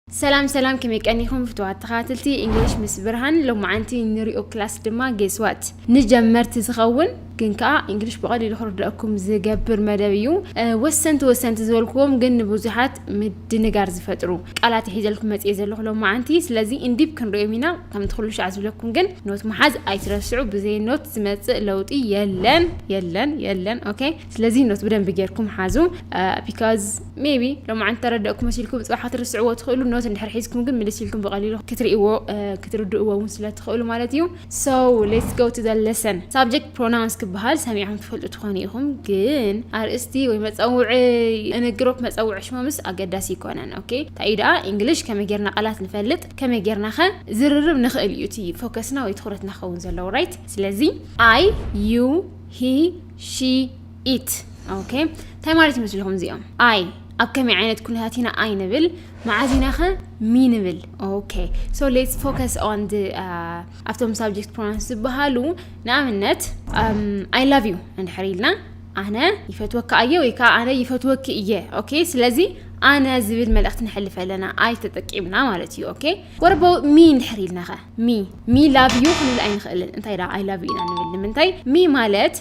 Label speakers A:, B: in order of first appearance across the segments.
A: ሰላም ሰላም ከመይ ቀኒኹም ፍትዋት ተኸታተልቲ እንግሊሽ ምስ ብርሃን ሎማዓንቲ ንሪኦ ክላስ ድማ ጌስዋት ንጀመርቲ ዝኸውን ግን ከዓ እንግሊሽ ብቐሊሉ ክርድኣኩም ዝገብር መደብ እዩ ወሰንቲ ወሰንቲ ዝበልክዎም ግን ንብዙሓት ምድንጋር ዝፈጥሩ ቃላት ሒዘልኩም መፅኤ ዘለኹ ሎማዓንቲ ስለዚ እንዲብ ክንሪኦም ኢና ከምቲ ኩሉ ሻዕ ዝብለኩም ግን ኖት መሓዝ ኣይትረስዑ ብዘይ ኖት ዝመፅእ ለውጢ የለን የለን የለን ኦኬ ስለዚ ኖት ብደንቢ ጌርኩም ሓዙ ቢካዝ ሜቢ ሎማዓንቲ ተረደእኩ መሲልኩም ፅባሕ ክትርስዕዎ ትኽእሉ ኖት እንድሕር ሒዝኩም ግን ምልስ ኢልኩም ብቐሊሉ ክትርእዎ ክትርድእዎ እውን ስለትኽእሉ ማለት እዩ ሶ ሌትስ ጎ ቱ ዘ ለሰን ሳብጀክት ፕሮናውንስ ክበሃል ሰሚዕኩም ትፈልጡ ትኾኑ ኢኹም ግን ኣርእስቲ ወይ መፀውዒ እንግሮፕ መፀውዒ ሽሞምስ ኣገዳሲ ይኮነን ኦኬ እንታይ እዩ ደኣ እንግሊሽ ከመይ ጌርና ቃላት ንፈልጥ ከመይ ጌርና ኸ ዝርርብ ንኽእል እዩ እቲ ፎከስና ወይ ትኹረትና ክኸውን ዘለዎ ራይት ስለዚ ኣይ ዩ ሂ ሺ ኢት ኦኬ እንታይ ማለት ይመስልኹም እዚኦም ኣይ ኣብ ከመይ ዓይነት ኩነታት ኢና ኣይ ንብል መዓዝ ኢና ኸ ሚ ንብል ኦኬ ሶ ሌትስ ፎከስ ኦን ኣብቶም ሳብጀክት ፕሮናንስ ዝበሃሉ ንኣብነት ኣይ ላቭ ዩ እንድሕር ኢልና ኣነ ይፈትወካ እየ ወይ ከዓ ኣነ ይፈትወኪ እየ ኦኬ ስለዚ ኣነ ዝብል መልእኽቲ ንሕልፍ ኣለና ኣይ ተጠቂምና ማለት እዩ ኦኬ ወረበው ሚ እንድሕር ኢልና ኸ ሚ ሚ ላቭ ዩ ክንብል ኣይንኽእልን እንታይ ደኣ ኣይ ላቭ ዩ ኢና ንብል ንምንታይ ሚ ማለት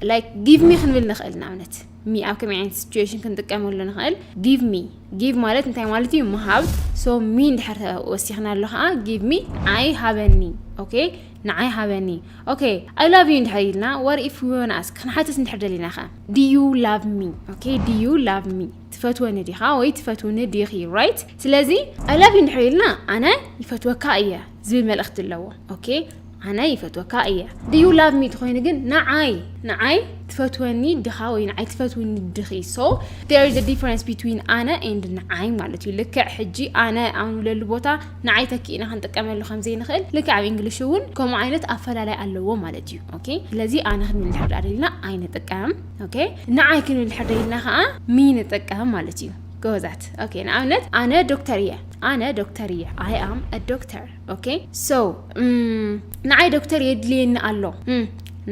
A: ላይክ ጊቭ ሚ ክንብል ንኽእል ንኣብነት ሚ ኣብ ከመይ ዓይነት ሲትዌሽን ክንጥቀመሉ ንኽእል ጊቭ ሚ ጊቭ ማለት እንታይ ማለት እዩ ምሃብ ሶ ሚ እንድሕር ወሲኽና ኣሎ ከዓ ጊቭ ሚ ንዓይ ሃበኒ ኦኬ ንዓይ ሃበኒ ኦኬ ኣይ ላቭ ዩ እንድሕር ኢልና ወር ኢፍ ዩ ኣስክ ክንሓትት እንድሕር ደሊና ከ ድዩ ላቭ ሚ ኦኬ ድዩ ላቭ ሚ ትፈትወኒ ዲኻ ወይ ትፈትውኒ ዲኺ ራይት ስለዚ ኣይ ላቭ ዩ እንድሕር ኢልና ኣነ ይፈትወካ እየ ዝብል መልእኽቲ ኣለዎ ኦኬ ኣነ ይፈትወካ እየ ድዩ ላቭ ሚ ትኾይኑ ግን ንዓይ ንዓይ ትፈትወኒ ድኻ ወይ ንዓይ ትፈትውኒ ድኺ ሶ ዴር ኢዝ ዲፈረንስ ቢትዊን ኣነ ኤንድ ንዓይ ማለት እዩ ልክዕ ሕጂ ኣነ ኣብ ንብለሉ ቦታ ንዓይ ተኪእና ክንጥቀመሉ ከም ዘይንኽእል ልክዕ ኣብ እንግሊሽ እውን ከምኡ ዓይነት ኣፈላላይ ኣለዎ ማለት እዩ ኦኬ ስለዚ ኣነ ክንብል እንድሕር ዳኣ ደሊና ኣይንጥቀም ኦኬ ንዓይ ክንድሕር ደይልና ከዓ ሚ ንጠቀም ማለት እዩ ጎበዛት ኦኬ ንኣብነት ኣነ ዶክተር እየ ኣነ ዶክተር እየ ኣይ ኣም ዶክተር ኦኬ ሶ ንዓይ ዶክተር የድልየኒ ኣሎ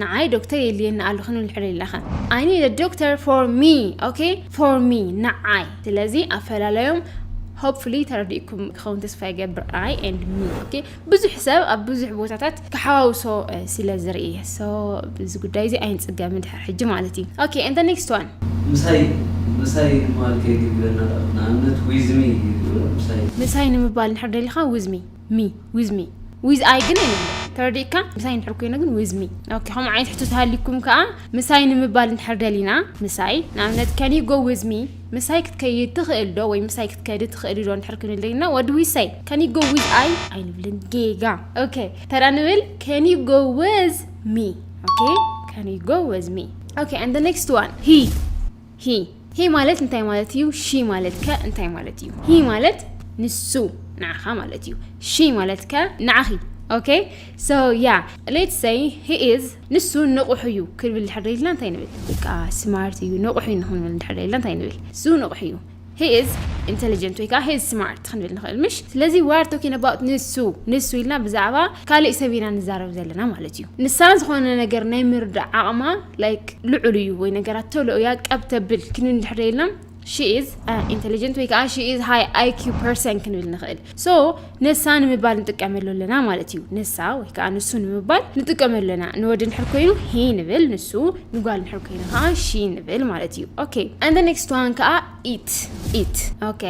A: ንዓይ ዶክተር የድልየኒ ኣሎ ክንብል ንሕር ደይልና ከ ኣይ ኒድ ዶክተር ፎር ሚ ኦኬ ፎር ሚ ንዓይ ስለዚ ኣፈላለዮም ሆፕፉሊ ተረዲእኩም ክኸውን ተስፋ ይገብር ኣይ ኤንድ ሚ ኦኬ ብዙሕ ሰብ ኣብ ብዙሕ ቦታታት ክሓዋውሶ ስለ ዝርኢ ሶ እዚ ጉዳይ እዚ ኣይንጽገምን ድሕሪ ሕጂ ማለት እዩ ኦኬ and the next one ምሳይ ምሳይ ንምባል ከይትብለና ደኣ ንኣብነት
B: with me ይብሉ ምሳይ።
A: ምሳይ ንምባል እንድሕር ደሊኻ with me me with me with I ግን ኣይንብሎን ተረዲእካ ምሳይ እንድሕር ኮይኑ ግን with me ኦኬ ከምኡ ዓይነት ሕቶ ተሃሊኩም ከኣ ምሳይ ንምባል እንድሕር ደሊና ምሳይ ንኣብነት can you go with me ምሳይ ክትከይድ ትኽእል ዶ ወይ ምሳይ ክትከዲ ትኽእሊ ዶ እንድሕር ክንልይና ወዲ ዊሰይ ከን ዩ ጎ ዊዝ ኣይ ኣይንብልን ጌጋ ኦኬ ተራ ንብል ከን ዩ ጎ ዊዝ ሚ ኦኬ ከን ዩ ጎ ዊዝ ሚ ኦኬ ኣንድ ዘ ኔክስት ዋን ሂ ሂ ሂ ማለት እንታይ ማለት እዩ ሺ ማለት ከ እንታይ ማለት እዩ ሂ ማለት ንሱ ንዓኻ ማለት እዩ ሺ ማለት ከ ንዓኺ ኦኬ ሶ ያ ሌትስ ሰይ ሂ ኢዝ ንሱ ንቑሕ እዩ ክብል ድሕር ኢልና እንታይ ንብል? በቃ ስማርት እዩ ንቑሕ እዩ ንክንብል ድሕር ኢልና እንታይ ንብል? እሱ ንቑሕ እዩ ሂ ኢዝ ኢንተሊጀንት ወይ ከዓ ሂ ኢዝ ስማርት ክንብል ንኽእል ምሽ ስለዚ ዋር ቶኪን ኣባውት ንሱ ንሱ ኢልና ብዛዕባ ካሊእ ሰብ ኢና ንዛረብ ዘለና ማለት እዩ ንሳ ዝኾነ ነገር ናይ ምርዳእ ዓቕማ ላይክ ልዑል እዩ ወይ ነገራት ቶሎ እያ ቀብተብል ክንብል ድሕር ኢልና ሺ ኢዝ ኢንተሊጀንት ወይ ከዓ ሺ ኢዝ ሃይ ኣይኪው ፐርሰን ክንብል ንኽእል ሶ ንሳ ንምባል ንጥቀመሉ ኣለና ማለት እዩ ንሳ ወይ ከዓ ንሱ ንምባል ንጥቀመሉ ኣለና ንወዲ ንድሕር ኮይኑ ሂ ንብል ንሱ ንጓል ንድሕር ኮይኑ ከዓ ሺ ንብል ማለት እዩ ኦኬ and the next one ከዓ ኢት ኢት ኦኬ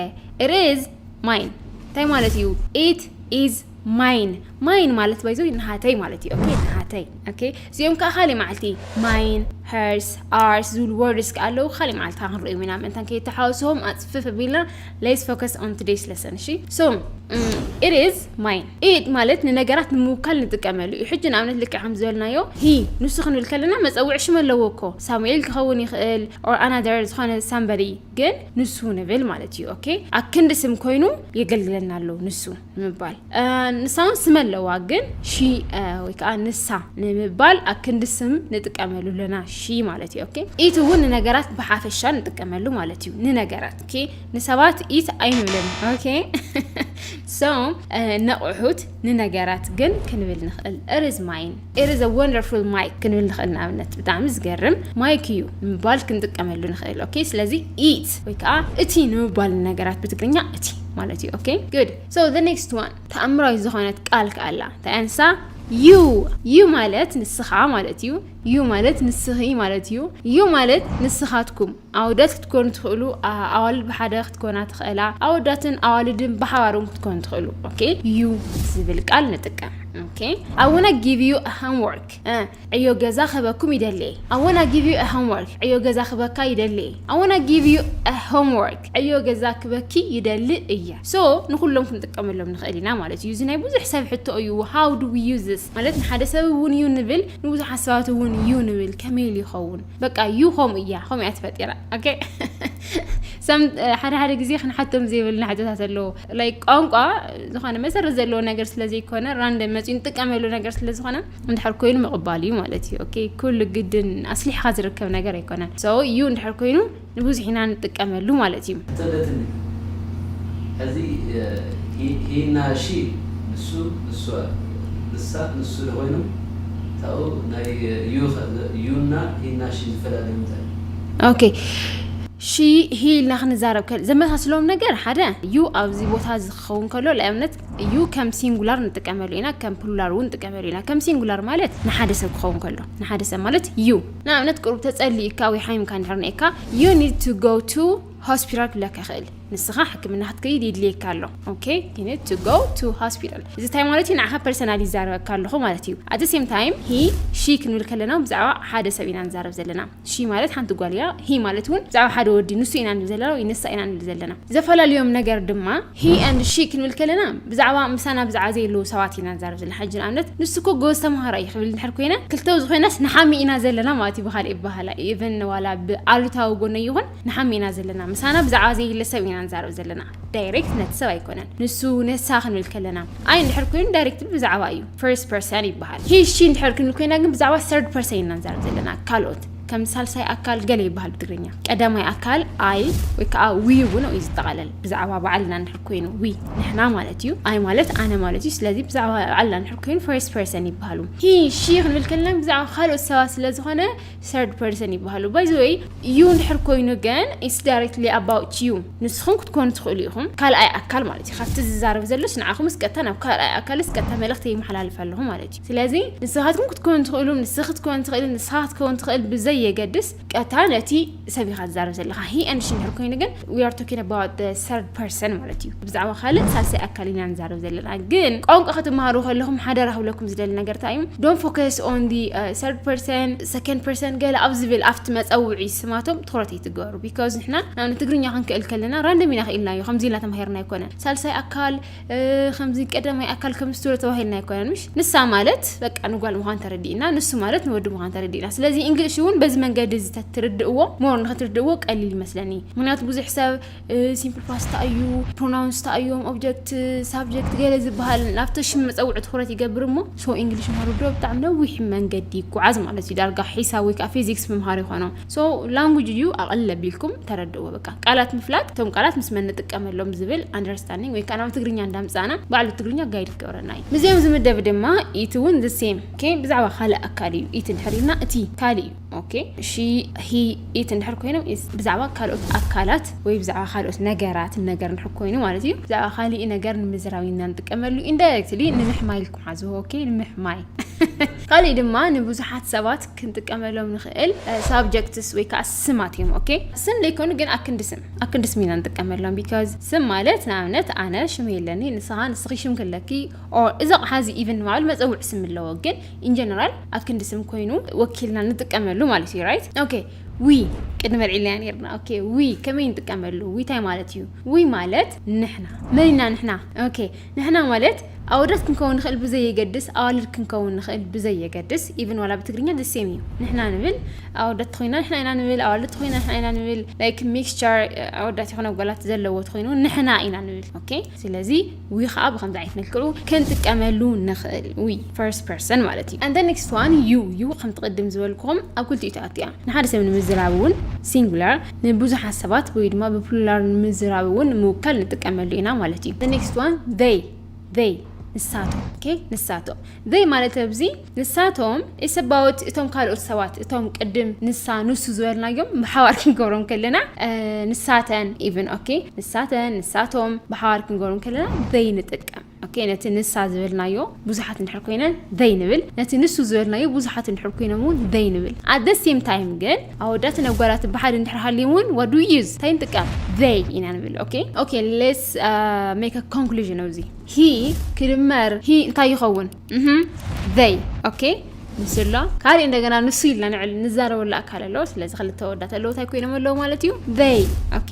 A: it is mine እንታይ ማለት እዩ ኢት ኢዝ ማይን ማይን ማለት ባይዞ ንሃተይ ማለት እዩ ኦኬ ንሃተይ ኦኬ እዚኦም ከዓ ካሊእ መዓልቲ ማይን ሄርስ ኣርስ ዝብሉ ወርድስ ከዓ ኣለዉ ካሊእ መዓልቲ ከዓ ክንሪኦም ኢና ምእንታን ከይተሓወስዎም ኣፅፍፍ ኣቢልና ሌስ ፎከስ ኦን ቱዴይስ ለሰን እሺ ሶ ኢት ኢዝ ማይን ኢት ማለት ንነገራት ንምውካል ንጥቀመሉ እዩ ሕጂ ንኣብነት ልክዕ ከም ዝበልናዮ ሂ ንሱ ክንብል ከለና መፀውዒ ሽም ኣለዎ እኮ ሳሙኤል ክኸውን ይኽእል ኦር ኣናደር ዝኾነ ሳምበሪ ግን ንሱ ንብል ማለት እዩ ኦኬ ኣክንዲ ስም ኮይኑ የገልግለና ኣሎ ንሱ ንምባል ንሳ እውን ስም ኣለዋ ግን ሺ ወይ ከዓ ንሳ ንምባል ኣክንዲ ስም ንጥቀመሉ ኣለና ሺ ማለት እዩ ኦኬ ኢት እውን ንነገራት ብሓፈሻ ንጥቀመሉ ማለት እዩ ንነገራት ኦኬ ንሰባት ኢት ኣይንብልን ኦኬ ሶ ነቑሑት ንነገራት ግን ክንብል ንኽእል እርዝ ማይን It is a wonderful mic ክንብል ንኽእል ንኣብነት ብጣዕሚ ዝገርም ማይክ እዩ ንምባል ክንጥቀመሉ ንኽእል ኦኬ ስለዚ it ወይ ከዓ እቲ ንምባል ነገራት ብትግርኛ እቲ ማለት እዩ ኦኬ good so the next one ተኣምራዊት ዝኾነት ቃል ከዓ ኣላ እንታይ ኣንሳ ዩ ዩ ማለት ንስኻ ማለት እዩ ዩ ማለት ንስኺ ማለት እዩ ዩ ማለት ንስኻትኩም ኣወዳት ክትኮኑ ትኽእሉ ኣዋልድ ብሓደ ክትኮና ትኽእላ ኣወዳትን ኣዋልድን ብሓባር እውን ክትኮኑ ትኽእሉ ኦኬ ዩ ዝብል ቃል ንጥቀም ኦኬ ኣወና ጊቭ ዩ ሆምወርክ ዕዮ ገዛ ክህበኩም ይደሊ ኣወና ጊቭ ዩ ሆምወርክ ዕዮ ገዛ ክህበካ ይደሊ ኣወና ጊቭ ዩ ሆምወርክ ዕዮ ገዛ ክበኪ ይደሊ እየ ሶ ንኩሎም ክንጥቀመሎም ንኽእል ኢና ማለት እዩ እዚ ናይ ብዙሕ ሰብ ሕቶ እዩ ሃው ዱ ዊ ዩዝ ማለት ንሓደ ሰብ እውን ዩ ንብል ንብዙሓት ሰባት እውን ዩ ንብል ከመይ ኢሉ ይኸውን በቃ ዩ ከምኡ እያ ከምኡ እያ ተፈጢራ ኦኬ ሰም ሓደ ሓደ ግዜ ክንሓቶም ዘይብልና ሕቶታት ኣለዎ ላይ ቋንቋ ዝኾነ መሰረት ዘለዎ ነገር ስለ ዘይኮነ ራንደ መፅኡ ንጥቀመሉ ነገር ስለ ዝኾነ እንድሕር ኮይኑ ምቕባል እዩ ማለት እዩ ኦኬ ኩሉ ግድን ኣስሊሕካ ዝርከብ ነገር ኣይኮነን ሰው እዩ እንድሕር ኮይኑ ንብዙሕ ኢና ንጥቀመሉ ማለት እዩ። ተደትኒ
B: ሕዚ ሂና ሺ ንሱ ንሷ ንሳ ንሱ ዶ ኮይኖም ታኡ ናይ ዩ ከ ዩ እና
A: ሂና ሺ ዝፈላለዩ እንታይ እዩ? ኦኬ ሺ ሂ ኢልና ክንዛረብ ከል ዘመሳስሎም ነገር ሓደ ዩ ኣብዚ ቦታ እዚ ክኸውን ከሎ ንኣብነት ዩ ከም ሲንጉላር ንጥቀመሉ ኢና ከም ፕሉላር እውን ንጥቀመሉ ኢና ከም ሲንጉላር ማለት ንሓደ ሰብ ክኸውን ከሎ ንሓደ ሰብ ማለት ዩ ንኣብነት ቅሩብ ተጸሊዩካ ወይ ሓሚምካ እንድሕር ነይካ you need to go to ሆስፒታል ክብለካ ይኽእል ንስኻ ሕክምና ክትከይድ ይድልየካ ኣሎ ኦኬ you need to go to hospital እዚ ታይ ማለት እዩ ንዓኻ ፐርሰናል ይዛረበካ ኣለኹ ማለት እዩ at the same time he she ክንብል ከለና ብዛዕባ ሓደ ሰብ ኢና ንዛረብ ዘለና she ማለት ሓንቲ ጓል እያ he ማለት እውን ብዛዕባ ሓደ ወዲ ንሱ ኢና ንብል ዘለና ወይ ንሳ ኢና ንብል ዘለና ዘፈላለዮም ነገር ድማ ሂ ኣንድ ሺ ክንብል ከለና ብዛዕባ ምሳና ብዛዕባ ዘየለዉ ሰባት ኢና ንዛረብ ዘለና ሕጂ ንኣብነት ንሱ እኮ ጎበዝ ተምሃራይ እዩ ክብል እንድሕር ኮይነ ክልተ ዝኾይናስ ንሓሚ ኢና ዘለና ማለት እዩ ብኻልእ ይበሃላ ኢቨን ዋላ ብኣሉታዊ ጎነይ ይኹን ንሓሚ ኢና ዘለና ምሳና ብዛዕባ ዘየለ ሰብ ኢና ንዛረብ ዘለና ዳይሬክት ነቲ ሰብ ኣይኮነን ንሱ ነሳ ክንብል ከለና ኣይ እንድሕር ኮይኑ ዳይሬክት ብዛዕባ እዩ ፈርስት ፐርሰን ይበሃል ሂ ሺ እንድሕር ክንብል ኮይና ግን ብዛዕባ ሰርድ ፐርሰን ኢና ንዛረብ ዘለና ካልኦት ከም ሳልሳይ ኣካል ገለ ይበሃል ብትግርኛ። ቀዳማይ ኣካል ኣይ ወይ ከዓ ዊ እውን እዩ ዝጠቓለል። ብዛዕባ ባዕልና እንድሕር ኮይኑ ዊ ንሕና ማለት እዩ። ኣይ ማለት ኣነ ማለት እዩ። ስለዚ ብዛዕባ ባዕልና እንድሕር ኮይኑ ፈርስት ፐርሰን ይበሃሉ። ሂ ሺ ክንብል ከለና ብዛዕባ ካልኦት ሰባት ስለ ዝኾነ ሰርድ ፐርሰን ይበሃሉ። ባይ ዘ ወይ ዩ እንድሕር ኮይኑ ግን ኢትስ ዳይሬክትሊ ኣባውት ዩ ንስኹም ክትኮኑ ትኽእሉ ኢኹም። ካልኣይ ኣካል ማለት እዩ። ካብቲ ዝዛረብ ዘሎስ ንዓኹምስ ቀጥታ ናብ ካልኣይ ኣካልስ ቀጥታ መልእኽቲ ይመሓላልፍ ኣለኹ ማለት እዩ። ስለዚ ንስኻትኩም ክትኮኑ ትኽእሉ፣ ንስኺ ክትኮኒ ትኽእሊ፣ ንስኻ ክትከውን ትኽእል ብዘይ የገድስ ቀጥታ ነቲ ሰብ ኢኻ ትዛረብ ዘለኻ። ሂ ኤንድ ሺ እንድሕር ኮይኑ ግን ዊ ኣር ቶኪንግ ኣባውት ዘ ሰርድ ፐርሰን ማለት እዩ። ብዛዕባ ካልእ ሳልሳይ ኣካል ኢና ንዛረብ ዘለና። ግን ቋንቋ ክትመሃሩ ከለኹም ሓደራ ክብለኩም ዝደሊ ነገር እንታይ እዩ ዶንት ፎከስ ኦን ዲ ሰርድ ፐርሰን ሰከንድ ፐርሰን ገለ ኣብ ዝብል ኣብቲ መጸውዒ ስማቶም ትኹረት ኣይትግበሩ ቢካዝ ንሕና ናብ ትግርኛ ክንክእል ከለና ራንደም ኢና ክኢልናዮ ከምዚ ኢልና ተማሂርና ኣይኮነን ሳልሳይ ኣካል ከምዚ ቀዳማይ ኣካል ከም ስቱረ ተባሂልና ኣይኮነን ምሽ ንሳ ማለት በቃ ንጓል ምዃን ተረዲእና ንሱ ማለት ንወዲ ምዃን ተረዲእና ስለዚ እንግሊሽ እውን በዚ መንገዲ እዚ ትርድእዎ ሞር ንክትርድእዎ ቀሊል ይመስለኒ ምክንያቱ ብዙሕ ሰብ ሲምፕል ፓስታ እዩ ፕሮናውንስ ታ እዮም ኦብጀክት ሳብጀክት ገለ ዝበሃል ናብቲ ሽም መፀውዒ ትኩረት ይገብር እሞ ሶ እንግሊሽ ምሃሩ ዶ ብጣዕሚ ነዊሕ መንገዲ ይጓዓዝ ማለት እዩ ዳርጋ ሒሳብ ወይ ከዓ ፊዚክስ ምምሃር ይኾኖ ሶ ላንጉጅ እዩ ኣቐል ኣቢልኩም ተረድእዎ በቃ ቃላት ምፍላጥ እቶም ቃላት ምስ መን ንጥቀመሎም ዝብል ኣንደርስታንዲንግ ወይ ከዓ ናብ ትግርኛ እንዳምፃእና ባዕሉ ትግርኛ ጋይድ ክገብረና እዩ ምስዚኦም ዝምደብ ድማ ኢቲ እውን ዝሴም ኦኬ ብዛዕባ ካልእ ኣካል እዩ ኢቲ እንድሕር ኢልና እቲ ካልእ እዩ ኦኬ ሺ ሂ ኢቲ እንድሕር ኮይኖም ኢዝ ብዛዕባ ካልኦት ኣካላት ወይ ብዛዕባ ካልኦት ነገራት ነገር እንድሕር ኮይኑ ማለት እዩ ብዛዕባ ካሊእ ነገር ንምዝራብ ኢና ንጥቀመሉ ኢንዳይሬክትሊ ንምሕማይ ኢልኩም ሓዝዎ ኦኬ ንምሕማይ ካልእ ድማ ንብዙሓት ሰባት ክንጥቀመሎም ንኽእል ሳብጀክትስ ወይ ከዓ ስማት እዮም ኦኬ ስም ዘይኮኑ ግን ኣክንዲ ስም ኣክንዲ ስም ኢና ንጥቀመሎም ቢካዝ ስም ማለት ንኣብነት ኣነ ሽም የለኒ ንስኻ ንስኺ ሽም ክለኪ ኦር እዚ ኣቕሓ እዚ ኢቨን ንባዕሉ መፀውዒ ስም ኣለዎ ግን ኢንጀነራል ኣክንዲ ስም ኮይኑ ወኪልና ንጥቀመሉ ማለት እዩ ራይት ኦኬ ዊ ቅድሚ ኣልዒልና ነርና ኦኬ ዊ ከመይ ንጥቀመሉ ዊ እንታይ ማለት እዩ ዊ ማለት ንሕና መን ኢና ንሕና ኦኬ ንሕና ማለት ኣወዳት ክንከውን ንኽእል ብዘይየገድስ ኣዋልድ ክንከውን ንኽእል ብዘይየገድስ ኢቭን ዋላ ብትግርኛ the same እዩ ንሕና ንብል ኣወዳት ተኾይና ንሕና ኢና ንብል ኣዋልድ ተኾይና ንሕና ኢና ንብል like mixture ኣወዳት ይኹን ኣጓላት ዘለዎ ተኾይኑ ንሕና ኢና ንብል ኦኬ ስለዚ ዊ ከዓ ብከምዚ ዓይነት መልክዑ ክንጥቀመሉ ንኽእል ዊ first person ማለት እዩ and the next one you you ከምቲ ቅድም ዝበልኩም ኣብ ክልቲኡ ትኣቱ እያ ንሓደ ሰብ ንምዝራብ እውን singular ንብዙሓት ሰባት ወይ ድማ ብፕሉላር ንምዝራብ እውን ንምውካል ንጥቀመሉ ኢና ማለት እዩ። The next one they they ንሳቶም ኦኬ ንሳቶም they ማለት ኣብዚ ንሳቶም is about እቶም ካልኦት ሰባት እቶም ቅድም ንሳ ንሱ ዝበልናዮም ብሓባር ክንገብሮም ከለና ንሳተን ኢቭን ኦኬ ንሳተን ንሳቶም ብሓባር ክንገብሮም ከለና they ንጥቀም ኦኬ ነቲ ንሳ ዝበልናዮ ብዙሓት እንድሕር ኮይነን they ንብል ነቲ ንሱ ዝበልናዮ ብዙሓት እንድሕር ኮይኖም እውን they ንብል at the same time ግን ኣወዳትን ኣጓላትን ብሓደ እንድሕር ሃልዮም እውን what do we use እንታይ ንጥቀም they ኢና ንብል ኦኬ ኦኬ let's uh, make a conclusion ኣብዚ he ክድመር he እንታይ ይኸውን they ኦኬ ንሱ ኣሎ ካልእ እንደገና ንሱ ኢልና ንዕል ንዛረበሉ ኣካል ኣሎ ስለዚ ክልተ ወዳት ኣለዉ እንታይ ኮይኖም ኣለዉ ማለት እዩ they ኦኬ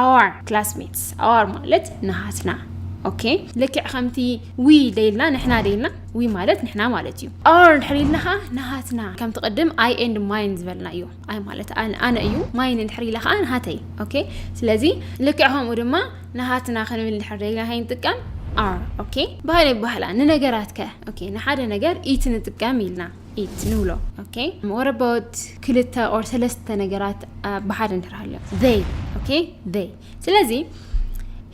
A: ኣዋር ክላስሜትስ ኣዋር ማለት ንሃትና ኦኬ ልክዕ ከምቲ ዊ ደይልና ንሕና ደይልና ዊ ማለት ንሕና ማለት እዩ ኣር እንድሕር ኢልና ከዓ ንሃትና ከምቲ ቅድም ኣይ ኤንድ ማይን ዝበልና እዩ ኣይ ማለት ኣነ እዩ ማይን እንድሕር ኢላ ከዓ ንሃተይ ኦኬ ስለዚ ልክዕ ከምኡ ድማ ንሃትና ክንብል እንድሕር ደይልና ከይ ንጥቀም ኣር ኦኬ ባህል ይባህላ ንነገራት ከ ኦኬ ንሓደ ነገር ኢቲ ንጥቀም ኢልና ኢት ንብሎ ኦኬ ወረቦት ክልተ ኦር ሰለስተ ነገራት ብሓደ እንድሕር ሃልዮም ዘይ ኦኬ ዘይ ስለዚ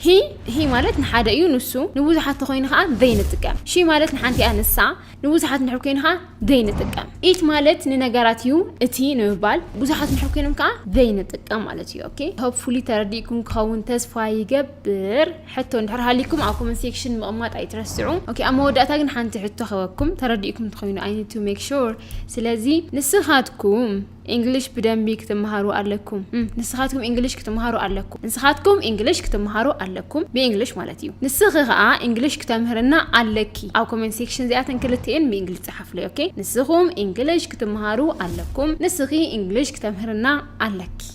A: ሂ ሂ ማለት ንሓደ እዩ ንሱ ንብዙሓት ተኮይኑ ከዓ ዘይ ንጥቀም ሺ ማለት ንሓንቲ እያ ንሳ ንብዙሓት ንድሕር ኮይኑ ከዓ ዘይ ንጥቀም ኢት ማለት ንነገራት እዩ እቲ ንምባል ብዙሓት ንድሕር ኮይኖም ከዓ ዘይ ንጥቀም ማለት እዩ ኦኬ ሆፕፉሊ ተረዲእኩም ክኸውን ተስፋ ይገብር ሕቶ እንድሕር ሃልይኩም ኣብ ኮመንት ሴክሽን ምቕማጥ ኣይትረስዑ ኦኬ ኣብ መወዳእታ ግን ሓንቲ ሕቶ ክህበኩም ተረዲእኩም ትኾይኑ ኣይ ኒድ ቱ ሜክ ሹር ስለዚ ንስኻትኩም እንግሊሽ ብደንቢ ክትመሃሩ ኣለኩም ንስኻትኩም እንግሊሽ ክትመሃሩ ኣለኩም ንስኻትኩም እንግሊሽ ክትመሃሩ ኣለኩም ብእንግሊሽ ማለት እዩ ንስኺ ከዓ እንግሊሽ ክተምህርና ኣለኪ ኣብ ኮመንት ሴክሽን እዚኣተን ክልትኤን ብእንግሊሽ ፀሓፍለይ ኦኬ ንስኹም እንግሊሽ ክትመሃሩ ኣለኩም ንስኺ እንግሊሽ ክተምህርና ኣለኪ